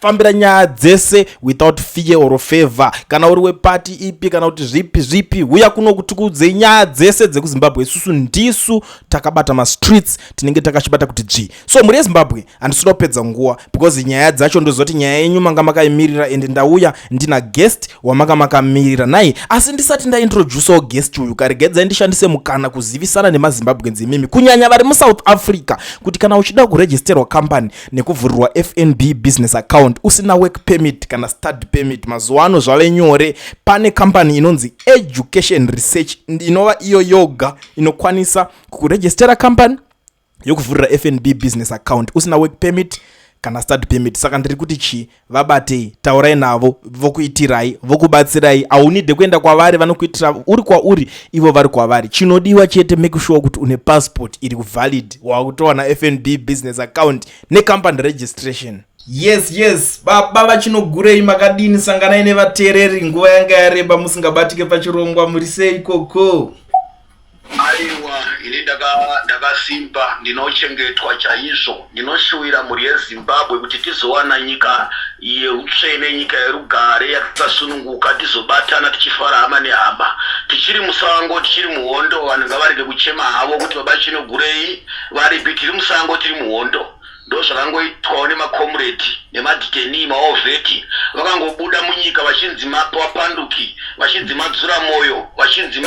fambira nyaya dzese without fear or favor kana uri wepati ipi kana kuti zvipi zvipi huya kuno kuti kuudzei nyaya dzese dzekuzimbabwe isusu ndisu takabata mastreets tinenge takachibata kuti dzvi so mhuri yezimbabwe handisina kupedza nguva because nyaya dzacho ndozoti nyaya yenyu manga makaimirira ende ndauya ndina guest wamanga makamirira nai asi ndisati ndaintroducewo guest uyu karegedzai ndishandise mukana kuzivisana nemazimbabwenzi imimi kunyanya vari musouth africa kuti kana uchida kuregisterwa company nekuvhurirwa fnb business account usina work permit kana study permit mazuva ano zvave nyore pane kambani inonzi education research inova iyo yoga inokwanisa kukurejistera kambani yokuvhurira fnb business account usina work permit kana study permit saka ndiri kuti chii vabatei taurai navo vokuitirai vokubatsirai haunide kuenda kwavari vanokuitira uri kwauri ivo vari kwavari chinodiwa chete make sure kuti une passport iri kuvalid wakutowana fnb business account necompany registration yes yes baba vachinogurei makadini sanganai nevateereri nguva yanga yareba musingabatike pachirongwa muri sei koko Aiwa, ini ndaka- ndakasimba, ndinochengetwa chaizvo. Ndinoshuvira mhuri yeZimbabwe kuti tizowana nyika yeutsvene, nyika yerugare, yakasununguka, tizobatana tichifara hama nehama. Tichiri musango, tichiri muhondo, vanhu ngavarege kuchema havo kuti baba Chinogurei varipi, tiri musango, tiri muhondo. ndozvakangoitwawo nemakomredi nemaditenii maovheti vakangobuda munyika vachinzi mapapanduki vachinzi madzura moyo vachinzi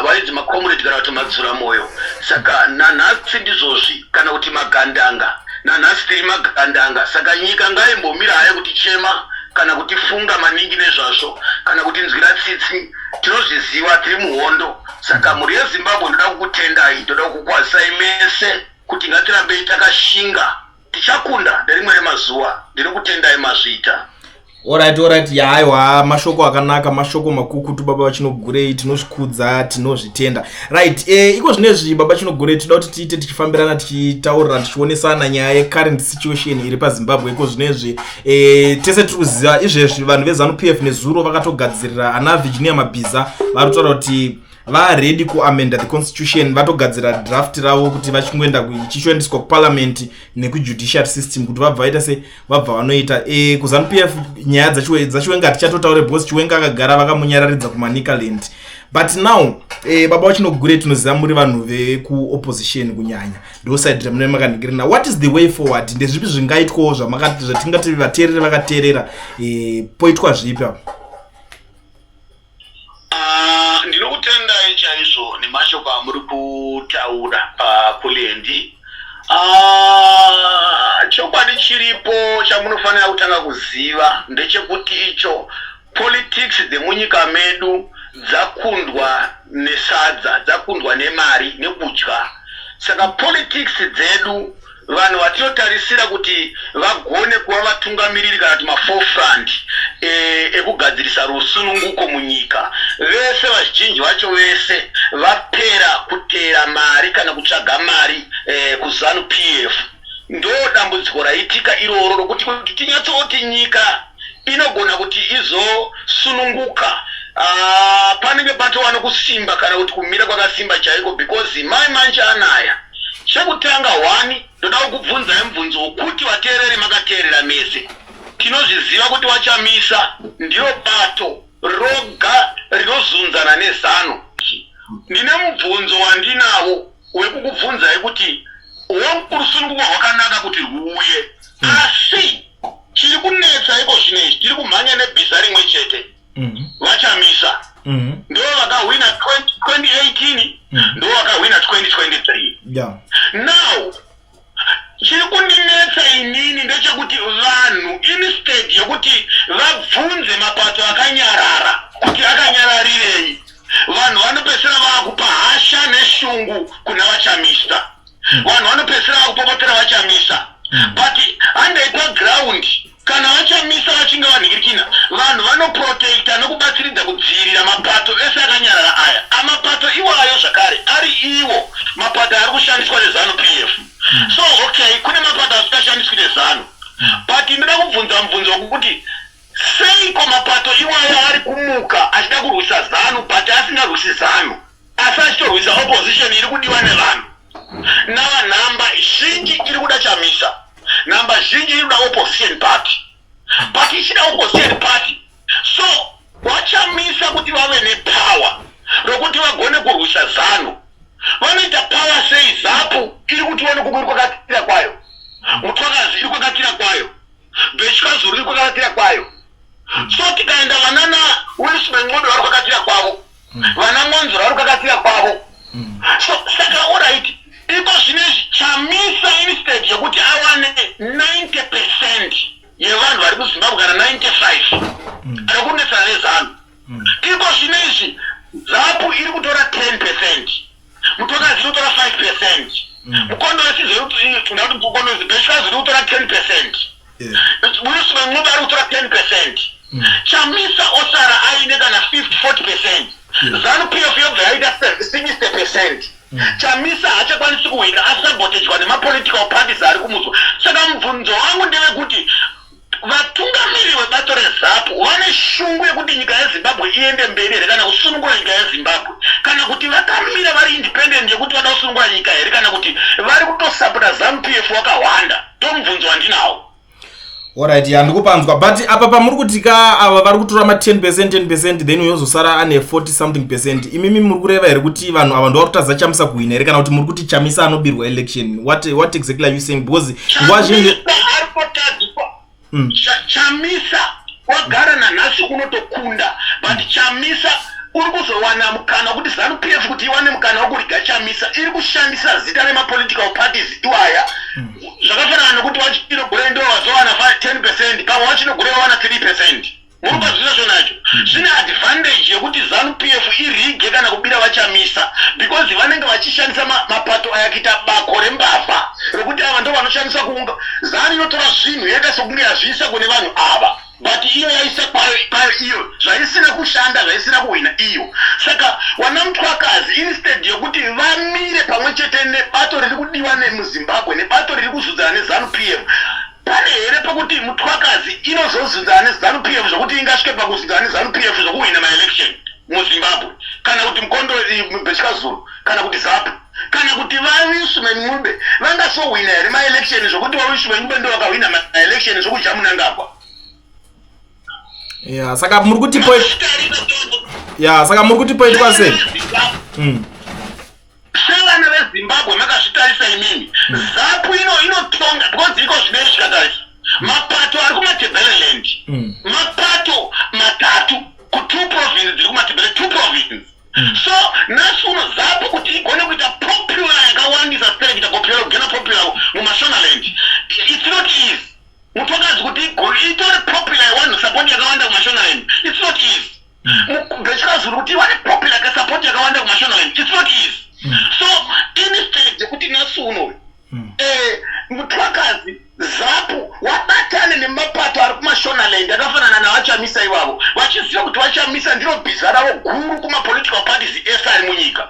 vainzi makomredi kana kuti madzura moyo saka nanhasi ndizvozvi kana kuti magandanga nanhasi tiri magandanga saka nyika ngaimbomira haya kuti chema kana kuti funga maningi nezvazvo kana kuti nzwira tsitsi tinozviziva tiri muhondo saka mhuri yezimbabwe ndoda kukutendai ndoda kukukwazisai mese Kuti ngatirambei takashinga tichakunda nderimwe remazuva ndiri kutendai mazvita orit orit yaaiwa mashoko akanaka mashoko makukutu baba vachinogurei tinozvikudza tinozvitenda right e, iko zvine zvi baba chinogurei tinoda kuti tiite tichifambirana tichitaurira tichionesana nyaya yecurrent situation iri pazimbabwe iko zvine zvi e, tese tiri kuziva izvezvi vanhu vezanu p f nezuro vakatogadzirira ana virginia mabhiza vari kutaura kuti vaready kuamenda the constitution vatogadzira draft ravo kuti vachingoenda chichoendeswa kuparliament nekujudiciary system kuti vabva vaita se vabva vanoita e, kuzanupf nyaya dzachiwenga tichatotaure because chiwenga akagara vakamunyararidza kumanicaland but now e, baba vachinogure tinoziva muri vanhu vekuopposition kunyanya ndosaidi ramune makandikirina what is the way forward ndezvipi zvingaitwawo zvatingati vateerere vakateerera e, poitwa zvipi apo Ah, ndinokutendai chaizvo nemashoko amuri kutaura pakulendi Ah, chokwadi chiripo chamunofanira kutanga kuziva ndechekuti icho politics dzemunyika medu dzakundwa nesadza dzakundwa nemari nekudya saka politics dzedu Vanhu vatinotarisira kuti vagone kuva vatungamiriri kana kuti maforefront eh, ekugadzirisa rusununguko munyika vese vazhinji vacho vese vapera kuteera mari kana kutsvaga mari eh, kuzanu p f ndo dambudziko raitika iroro rokuti kuti tinyatsoti nyika inogona kuti izosununguka uh, panenge patova nokusimba kana kuti kumira kwakasimba chaiko because mai manje anaya chekutanga hwani ndoda kukubvunzai mubvunzo wokuti vateereri makateerera mese tinozviziva kuti vachamisa ndiyo bato roga rinozunzana nezano ndine mubvunzo wandinavo wekukubvunzai kuti hworusununguko rwakanaka kuti rwuuye hmm. asi mm. chiri kunetsa iko zvino izvi tiri kumhanya nebhiza rimwe chete mhm. vachamisa mhm. ndo vakahwina 2018 mhm. ndo vakahwina 2023 now chiri kundinetsa inini ndechekuti vanhu instead yekuti vabvunze mapato akanyarara kuti akanyararirei vanhu vanopesera vaakupa hasha neshungu kuna vachamisa vanhu vanopedzisira vakupopotera vachamisa hmm. but handei paground kana vachamisa vachinge vanhikirikina vanhu vanoprotecta nokubatsiridza kudzivirira mapato ese akanyarara aya amapato iwayo zvakare ari iwo mapato ari kushandiswa nezanu p f hmm. so okay kune mapato asingashamiswi nezanu hmm. but ndinoda kubvunza mubvunzo wekukuti seiko mapato iwayo ari kumuka achida kurwisa zanu but asingarwisi zanu Asi achitorwisa opposition iri kudiwa nevanhu. Nava nhamba zhinji iri kuda Chamisa. Nhamba zhinji iri kuda opposition party. But ichida opposition party. So vachamisa kuti vave nepower rokuti vagone kurwisa zanu. Vanoita power sei zapu iri kutiwa nekukuri kwakatira kwayo. Mutwakazi iri kwakatira kwayo. Bechikazuru iri kwakatira kwayo. So tikaenda vanana Wilson Nxondo vari kwakatira kwavo. mm. vana mwanzura vari kukakatsira kwavo mm. so saka orit iko zvine chamisa instead yekuti awane 90 percent yevanhu vari kuzimbabwe kana 95 mm. ari kunetsana nezanu iko zvine izvi zapu iri kutora 10 percent Mutokazi inotora 5 percent. Mm. Mukondo wesizo inotora mukondo wesizo bechikazi inotora 10 percent. Murusi wen'ombe ari kutora 10 percent. Mm. Chamisa osara aine kana 50 40 percent. Zanu PF yobva yaita 60 percent. Mm. Chamisa haachakwanisi kuhwina asabotejwa nemapolitical parties ari kumutswa. Saka mubvunzo wangu ndewekuti Vatungamiri vebato reZAPU vane shungu yekuti nyika yeZimbabwe iende mberi here kana kusunungura nyika yeZimbabwe kana kuti vakamira vari independent yekuti vada kusunungura nyika here kana kuti vari kutosapota ZanuPF wakahwanda tomubvunzo wandinawo orit ya ndikupanzwa but apa pamuri kuti ka ava vari kutora ma 10 percent 10 percent then uyozosara ane 40 something percent imimi muri kureva here kuti vanhu ava ndovari kutadza chamisa kuhwina here kana kuti muri kuti chamisa anobirwa election what, what exactly are you saying because nguva zhinji ari kotadzwa mm. chamisa wagara nanhasi unotokunda but mm. chamisa uri kuzowana mukana wekuti zanu p f kuti iwane mukana wekuriga chamisa iri kushandisa zita remapolitical parties iwaya mm. zvakafanana nekuti wachinogure ndo wazowana 10 percent pamwe wachinogure wawana 3 percent unoda zvino zvonacho zvine advantage yekuti zanu p f irige kana kubira vachamisa because vanenge vachishandisa mapato aya kuita bako rembavha rekuti ava ndo vanoshandisa kuunga zanu inotora zvinhu yoita sokunge yazviisa kune vanhu ava but iyo yaisa kwayo kwayo iyo zvaisina kushanda zvaisina kuhwina iyo saka wana mutwakazi instead yokuti vamire pamwe chete nebato riri kudiwa nemuzimbabwe nebato riri kuzudzana nezanu p f Pane here pekuti Mthwakazi inozozunzana neZanu PF zvekuti ingasvike pakuzunzana neZanu PF zvekuhwina maelection muZimbabwe kana kuti Mkondo Bechikazuru kana kuti ZAPU kana kuti vawisu venyube vangasohwina here maelection zvekuti vawisu venyube ndo vakahwina maelection zvekudya munangagwa ya saka muri kuti ya saka muri kuti poitwa sei hmm. sevana vezimbabwe makazvitarisa imimi mm. zapu ino inotonga because iko zvinei zvikatarisa mm. mapato ari kumatebeleland mm. mapato matatu kutwo province dziri kumatebele two province so nhasi uno zapu kuti igone kuita popular yakawandisa sere kuita popular kugena popular mumashonaland it's not easy mutokadzi kuti itore popular yewanhu sapoti yakawanda kumashonaland it's not easy ndechikazuru kuti vane popular ka support yakawanda kumashonaland its not easy mm. so instead yekuti nasi unoyu mm. eh, mutwakazi zapu wabatane nemapato ari kumashonaland akafanana navachamisa ivavo vachiziva kuti vachamisa ndiro bhiza ravo guru kumapolitical parties ese ari munyika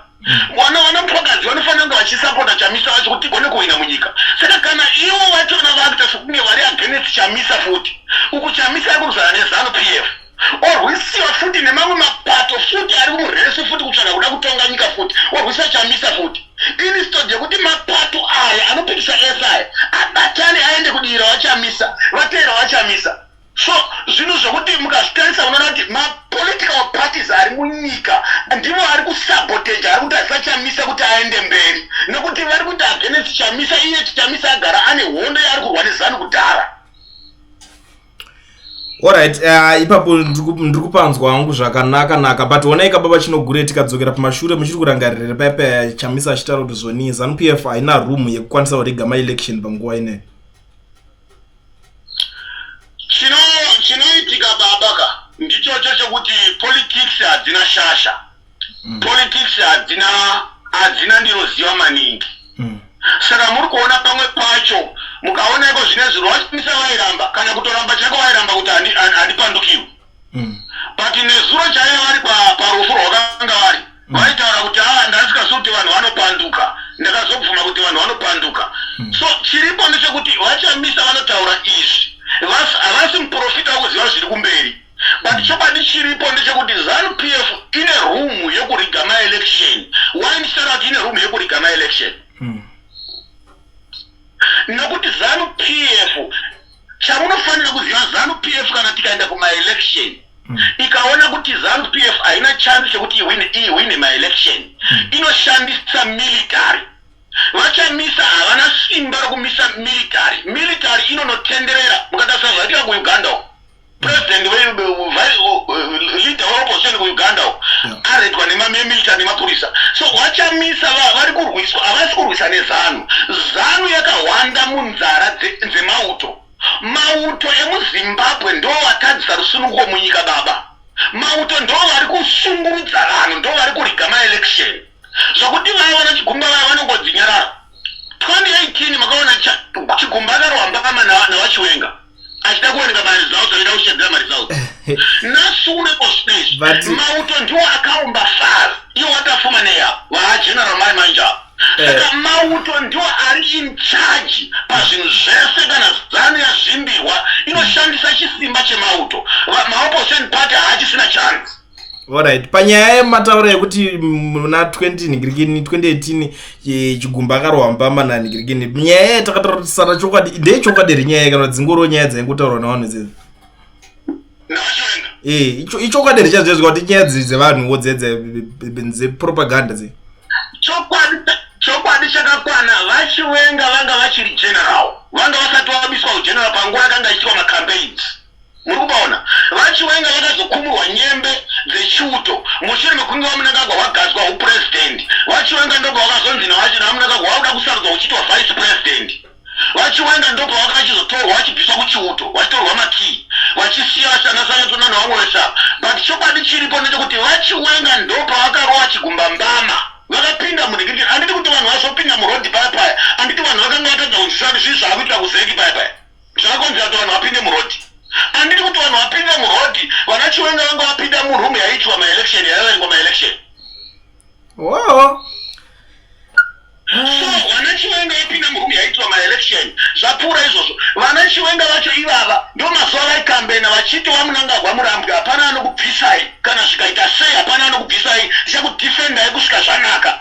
vana vana mutwakazi vanofanira kunge vachisapota chamisa vacho kuti tigone kuhwina munyika saka kana ivo vachona vakuita sokunge vari against chamisa futi uku chamisa ari kuruzana nezanu p f orwisiwa futi nemamwe mapato futi ari muresu futi kutsvaga kuda kutonga nyika futi orwisa chamisa futi inistod yekuti mapato aya anopikisa ese aya abatane aende kudiira wachamisa vateera wachamisa so zvinhu zvekuti mukazvitarisa unoona kuti mapolitical parties ari munyika ndivo ari kusabotage ari kuti asachamisa kuti aende mberi nekuti vari kuita agenesi chamisa iye chichamisa agara ane hondo yaari kurwa nezanu kudhara Alright, uh, ipapo ndiri kupanzwa hangu zvakanaka naka but honai kababa chinogure tikadzokera pamashure muchiri kurangaririra paya paya chamisa achitaura kuti zvonii zanupf f haina room yekukwanisa kurega maelection panguva ineyi chinoitika baba ka ndichocho chekuti politics hadzina shasha mm. politics hadzina hadzina ndinoziva maningi mm. saka muri kuona pamwe pacho mukaona iko zvine zvinhu wachinisa vairamba kana kutoramba chako vairamba kuti handipandukiwe mm. but nezuro chaiye vari parufu rwakanga vari mm. vaitaura kuti a ah, ndasikazi kuti vanhu vanopanduka ndakazobvuma kuti vanhu vanopanduka mm. so chiripo ndechekuti vachamisa vanotaura izvi havasi muprofita wokuziva zviri kumberi but chokwadi chiripo ndechekuti zanu p f ine room yekuriga maelection why ndichitaura kuti ine room yekuriga maelection hmm. nokuti zanu p f chamunofanira kuziva zanu p f kana tikaenda kumaelection mm. Hmm. ikaona kuti zanu p f haina chance chekuti iwine maelection mm. inoshandisa military vachamisa havana simba rokumisa military military inonotenderera mukatarisira zvaitika kuuganda uko president ve leader weopposition kuuganda u aredwa nemamemilita nemapurisa so vachamisa vari kurwiswa havasi kurwisa nezanu zanu yakahwanda munzara dzemauto mauto emuzimbabwe ndo vatadzisa rusununguko munyika baba mauto ndo vari kusungurudza vanhu ndo vari kuriga maelection zvokuti vaya vana chigumba vaya vanongodzinyarara 2018 makaona chigumba akarohambakama navachiwenga na achida kuwanika maresults achida kushedzera maresults nasure ospace mauto ndiwo akaumba far iyo watafuma neya vaageneral mai manja eh. saka mauto ndiwo ari in charge pazvinhu zvese kana zano yazvimbirwa inoshandisa chisimba chemauto maopposition party haachisina chance Alright, panyaya yemataura yekuti muna 20 nigirikini 2018 chigumba akarohwa mupamba na nigirikini nyaya yaye takatarisana chokwadi ndeye chokwadi here nyaya kana dzingoro nyaya dzaingotaurwa navanhu dzedzi eh, ichokwadi here chazvezvi kuti nyaya dziri dzevanhuwo dzepropaganda dze chokwadi chakakwana vachiwenga vanga vachiri general vanga vasati vabiswa ugeneral panguva yakanga ichiitwa macampaigns muri kubaona vachiwenga vakazokumurwa nyembe dzechiuto mushure mekunge vamunangagwa vagadzwa upurezidendi vachiwenga ndobva vakazonzi navachina vamunangagwa vauda kusarudza uchitwa vice president vachiwenga ndobva vakachizotorwa vachibviswa kuchiuto vachitorwa makii vachisiya vasanasanyatona nevamwe vesa but chokwadi chiripo ndechekuti vachiwenga ndobva vakarova chigumba mbama vakapinda munhikiti anditi kuti vanhu vazopinda murodi paya paya anditi vanhu vakanga vatadza kunzwisisa kuti zvii zvaakuitira kuzeki paya paya Zvakonzi ati vanhu vapinde muroad. Anditi kuti vanhu vapinde muroad, vana Chiwenga vanga vapinda muroom yaitwa ma election yaverengwa ma election. Oh. So vana Chiwenga vapinda muroom yaitwa ma election. Zvapura izvozvo. Vana Chiwenga vacho ivava ndo mazuva vai kambena vachiti vamunangagwa murambwe hapana anokubvisai kana zvikaita sei hapana anokubvisai ndichakudefendai kusvika zvanaka.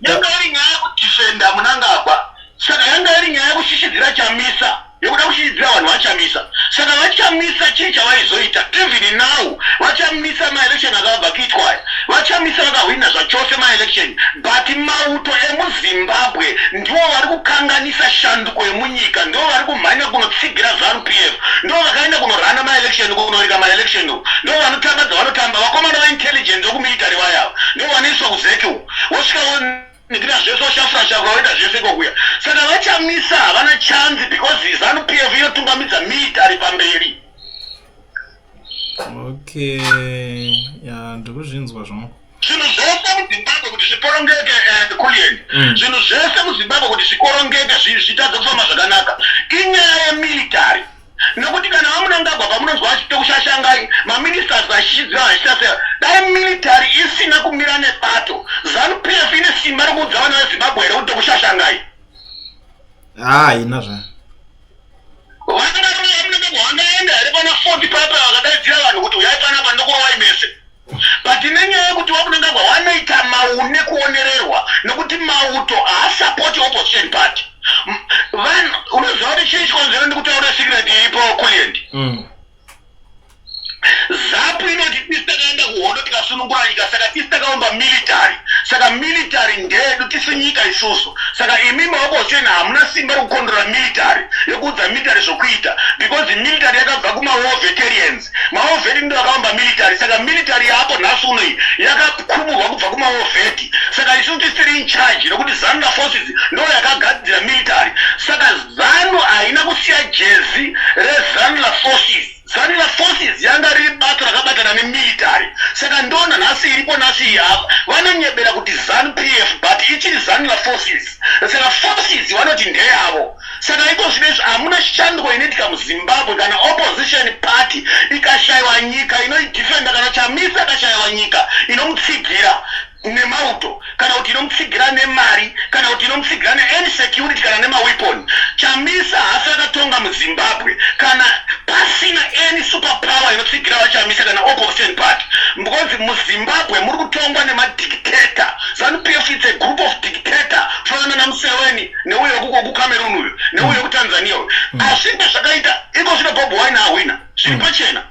yanga iri nyaya yekudefenda munangagwa saka yanga iri nyaya yekushishidzira chamisa yekuda kushishidzira vanhu vachamisa saka vachamisa chii chavaizoita even now vachamisa maelection akabva kuitwa aya vachamisa vakahwina zvachose maelection but mauto emuzimbabwe ndivo vari kukanganisa shanduko yemunyika ndivo vari kumhanya kunotsigira zanu p f ndivo vakaenda kunorana maelection kunorika maelection ndivo vanotamba dzavanotamba vakomana vaintelligent vekumilitary vayava ndivo vanoiswa kuzeki uku wosvika wonikira zvese woshafurasha kwaoita zvese kokuya saka vachamisa havana chanzi because zanu p f inotungamidza mit ari pamberi okay ya ndikuzvinzwa zvangu zvinhu zvese muzimbabwe kuti zvikorongeke and eh, kulieni mm. zvinhu zvese muzimbabwe kuti zvikorongeke zvitadze kufamba zvakanaka inyaya yemilitary Nokuti kana vamunangagwa pamunonzwa vachito kushashangai maministers vachishidzira vachitasera dai military isina kumira nebato zanu pf ine simba rokuudza vana vezimbabwe here kuti tokushashangai haa ina zva vanaaa vamunangagwa vangaenda here pana fort papa vakadaidzira vanhu kuti uyai panapa ndokurovai mese But nenyaya yekuti wakunangagwa wanoita maune kuonererwa nekuti mauto haasapoti opposition party vanhu unoziva kuti chii chikonzero ndikutaura secret iripo kulient mm. zapu inoti tisi takaenda kuhondo tikasunungura nyika saka tisi takaumba military saka military ndeedu tisi nyika isusu saka imi maopposition hamuna simba rekukondora military yekuudza military zvokuita because military yakabva kumawar veterians maovheti ndiwo akavamba military saka military yaako nhasi uno iyi yakakuburwa kubva kumaovheti saka isu tisiri in charge nekuti zanu naforces ndo yakagadzira military saka zanu haina kusiya jezi rezanu naforces zanu naforces yanga riri bato rakabatana nemilitary saka ndona nhasi iripo nhasi iyi apa vanonyebera kuti zanu p f but ichiri zanu naforces saka forces vanoti ndeyavo Saka iko zvino izvi hamuna shanduko inoitika muzimbabwe kana opposition party ikashaiwa nyika inoidefenda kana chamisa akashaiwa nyika inomutsigira nemauto kana kuti inomutsigira nemari kana kuti inomutsigira neany security kana nemaweapon chamisa hasi akatonga muzimbabwe kana pasina any super power inotsigira vachamisa kana opposition party because muzimbabwe muri kutongwa nemadictator zanupf its a group of dictator fanana namuseweni neuyo kucameroon uyu neuyo mm. kutanzania uyu mm. asi ndezvakaita iko zvino bob wine ahwina zviri mm. pachena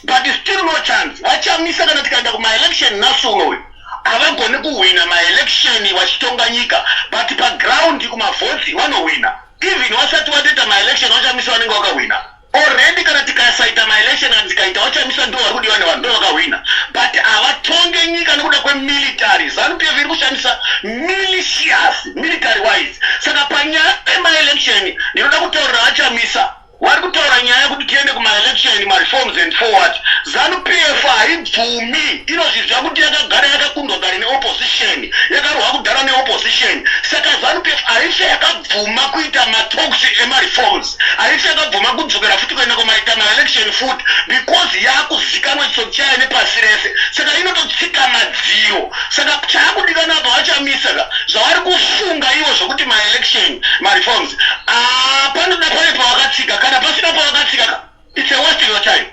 but still no chance vachamisa kana tikaenda kumaelection nhasi uno uyu havagoni kuhwina maelection vachitonga nyika but paground kumavhoti vanohwina even vasati vatoita maelection vachamisa vanenge vakahwina Already kana tikasaita maelection kana tikaita wachamiswa ndiwo wari kudiwa nevanhu ndovakahwina but havatonge nyika nekuda kwemilitary zanu pf iri kushandisa militias military wise saka panyaya yemaelection ndinoda kutaurira vachamisa wari kutaura nyaya yekuti tiende kumaelection mareforms and forward zanu pf haibvumi inozviziva kuti yakagara yakakundwa kare neopposition yakarohwa kudhara neopposition saka zanu pf haife yakabvuma kuita matalks emareforms haisi yakagoma kudzokera futi kuenda kumaitama election futi because yakuzikanwa chitsotsi chayo nepasi rese saka inototsika madziro saka chaakudikana apa vachamisa ka zvavari kufunga ivo zvekuti maelection mareforms ah, panoda pave pavakatsika kana pasina pavakatsika ka its a west your time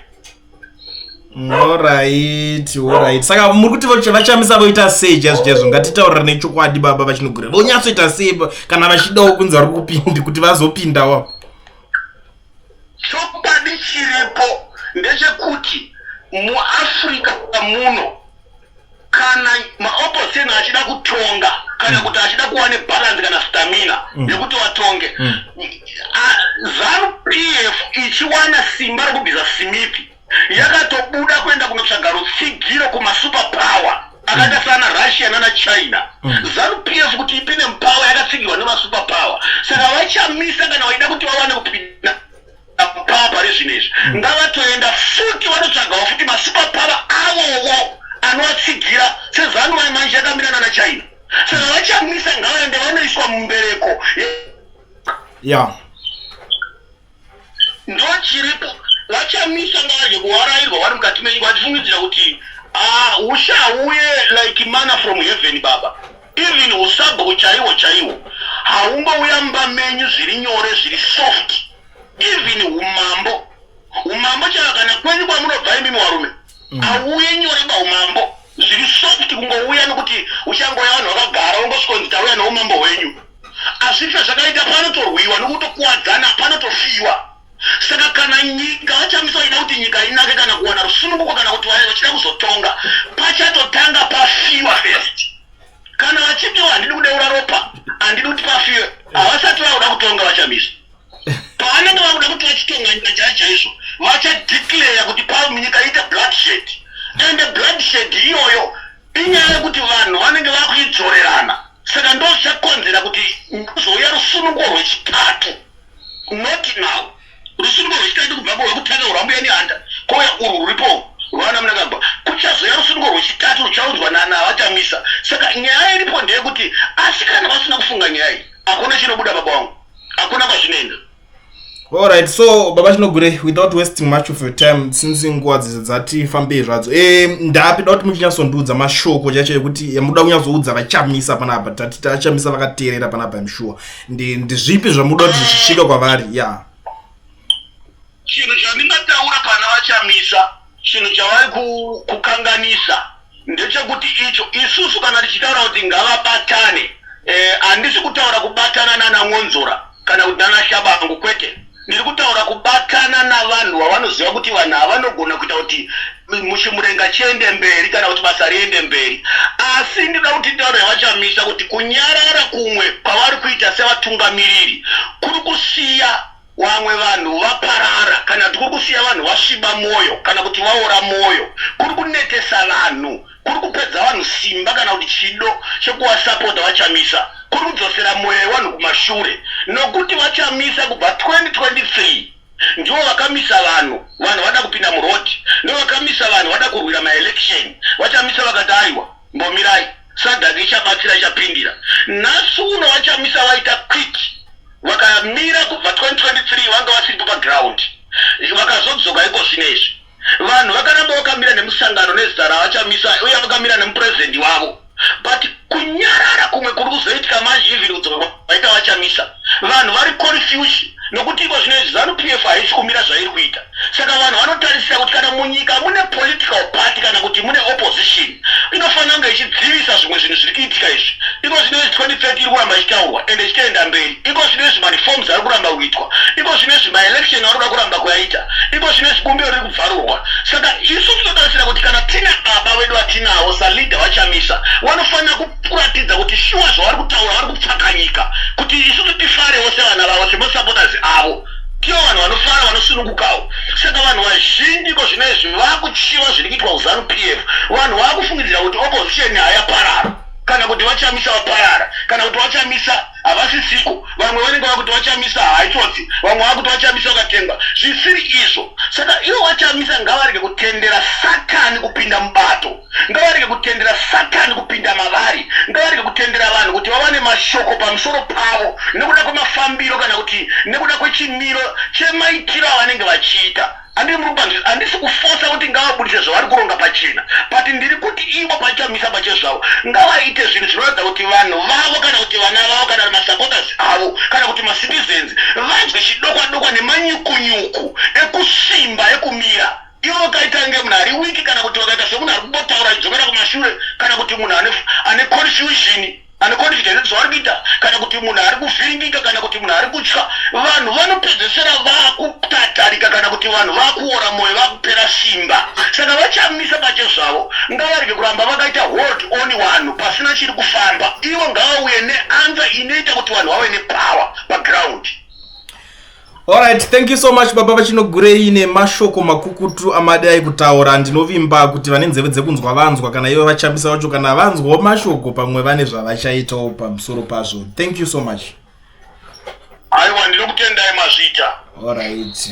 Alright, alright. Saka muri kuti vachamisa voita sei chaizvo chaizvo ngatitaurira nechokwadi baba vachinogura vonyatsoita sei kana vachidawo kunzi vari kupindi kuti vazopindawo chokwadi chiripo ndechekuti muafrica muno kana maopposition achida kutonga kana mm. kuti achida kuva nebalance kana stamina mm. yekuti watonge mm. zanu p f ichiwana simba rekubvisa simithi yakatobuda kuenda kunotsvaga rutsigiro kumasuper power akaita sana russia nana china zanu p f kuti ipi nemupower yakatsigirwa nemasuper power saka vachamisa kana vaida kuti vawane kupinda Pava pari zvino izvi mm. ngavatoenda futi vanotsvagawo futi masupapava avowo anovatsigira sezanu mai manje yakamira nana china saka vachamisa ngavaende vanoiswa mumbereko ya ndochiripo vachamisa ngavaje kuvarairwa vari mukati menyika vachifungidzira kuti ah, usha uye like mana from heaven baba even usabhu chaiwo chaiwo haungouya mumba menyu zviri nyore zviri soft even umambo umambo chaiwo kana kwenyu kwamunobva imimi warume mm. auye mm. nyore baumambo zviri soft kungouya nokuti uchangoya vanhu vakagara wongosvikonzi tauya noumambo hwenyu azvife zvakaita panotorwiwa nokutokuwadzana panotofiwa Saka kana nyika vaChamisa vachida kuti nyika inake kana kuwana rusununguko kana kuti vachida kuzotonga pachatotanga pafiwa first. Kana vachipiwa handidi kudeura ropa handidi kuti pafiwe havasati vakuda kutonga vaChamisa. Pavanenge vakuda kuti vachitonga nyika chaiyo chaizvo vachadeclare kuti panyika iite bloodshed and bloodshed iyoyo inyaya yekuti vanhu vanenge vakuidzorerana. Saka ndozvakonzera kuti ndozouya rusunungo rwechitatu not now rusunungo rwechitatu kubva rwekutanga rwambuya nehanda kouya urwu ruripo rwaana munangagwa kuchazouya rusunungo rwechitatu ruchaunzwa nana avachamisa saka nyaya iripo ndeyekuti asi kana vasina kufunga nyaya iyi hakuna chinobuda baba wangu hakuna kwazvinoenda All right, so baba chinogure without wasting much of your time since nguva dzidzo dzati fambei zvadzo e, ndapi da kuti muchinyatsondiudza mashoko chacho ekuti yamuda kunyatsoudza vachamisa panapa tati tachamisa vakateerera panapa imshuwa ndizvipi zvamuda kuti zvisvika kwavari ya yeah. chinhu chandingataura pana vachamisa chinhu chavari kukanganisa ndechekuti icho isusu kana tichitaura kuti ngavabatane eh, handisi eh, kutaura kubatana nana mwonzora kana kuti nana shabangu kwete ndiri kutaura kubatana navanhu vavanoziva kuti vanhu havanogona kuita kuti muchimurenga chiende mberi kana kuti basa riende mberi asi ndinoda kuti tauro yavachamisa kuti kunyarara kumwe kwavari kuita sevatungamiriri kuri kusiya Wamwe vanhu vaparara kana kuti kuri kusiya vanhu vasviba mwoyo kana kuti vaora mwoyo, kuri kunetesa vanhu, kuri kupedza vanhu simba kana kuti chido chekuvasapota VaChamisa, kuri kudzosera mwoyo yevanhu kumashure nokuti VaChamisa kubva 2023 ndivo vakamisa vanhu vanhu vada kupinda muroad ndovakamisa vanhu vada kurwira maelection vachamisa vakati aiwa mbomirai Sadhaka ichabatsira ichapindira nhasi uno vachamisa vaita quick vakamira kubva 2023 vanga vasiripo paground vakazodzoka iko zvino izvi vanhu vakaramba vakamira nemusangano nezita ravachamisa uye vakamira nemupurezidendi wavo but kunyarara kumwe kuri kuzoitika manje even kudzoka vaita vachamisa vanhu vari confuse nokuti iko zvino izvi zanu pf haisi kumira zvairi kuita saka vanhu vanotarisira kuti kana munyika mune political party kana kuti mune opposition inofanira kunge ichidzivisa zvimwe zvinhu zviri kuitika izvi iko zvino izvi 2030 iri kuramba ichitaurwa ende ichitoenda mberi iko zvino izvi mareforms ari kuramba kuitwa iko zvino izvi maelection anoda kuramba kuyaita iko zvino izvi bumbiro riri kubvarurwa saka isu tinotarisira kuti kana tina baba vedu vatinawo saleader vachamisa vanofanira kuratidza kuti shuwa zvavari kutaura vari kupfakanyika kuti isusu tifarewo sevana vavo semasupporters avo tivo vanhu vanofara vanosunungukawo saka vanhu vazhinji ko zvino izvi vakuchiva zviri kuitwa kuzanu p f vanhu vakufungidzira kuti opposition hayaparara kana kuti vachamisa vaparara kana kuti vachamisa havasisiko vamwe vanenge vakuti vachamisa haitsotsi vamwe vakuti vachamisa vakatengwa zvisiri izvo saka ivo vachamisa ngavarege kutendera satani kupinda mubato ngavarege kutendera satani kupinda mavari ngavarege kutendera vanhu kuti vawane mashoko pamusoro pavo nekuda kwemafambiro kana kuti nekuda kwechimiro chemaitiro avanenge vachiita andiri muri kubanzi handisi kufosa kuti ngavabudise zvavari kuronga pachena but ndiri kuti ivo pachamisa pachezvavo ngavaite zvinhu zvinoratidza kuti vanhu vavo kana kuti vana vavo kana masupporters avo kana kuti macitizens vanzwe chidokwadokwa nemanyukunyuku ekusvimba ekumira iwe wakaita kunge munhu ari wiki kana kuti wakaita semunhu ari kungotaura idzokera kumashure kana kuti munhu ane confusion ane confusion zvaari kuita kana kuti munhu ari kuvhiringika kana kuti munhu ari kutya vanhu vanopedzesera vakutatarika kana kuti vanhu vakuora mwoyo vakupera simba saka vachamisa pache zvavo ngavarege kuramba vakaita hold on vanhu pasina chiri kufamba ivo ngavauye neanza inoita kuti vanhu vave nepower paground Alright, thank you so much baba vachinogurei nemashoko makukutu amadai kutaura ndinovimba kuti vane nzeve dzekunzwa vanzwa kana ivo vachambisa vacho kana vanzwawo mashoko pamwe vane zvavachaitawo pamusoro pazvo thank you so much aiwa ndinokutendai mazvita alright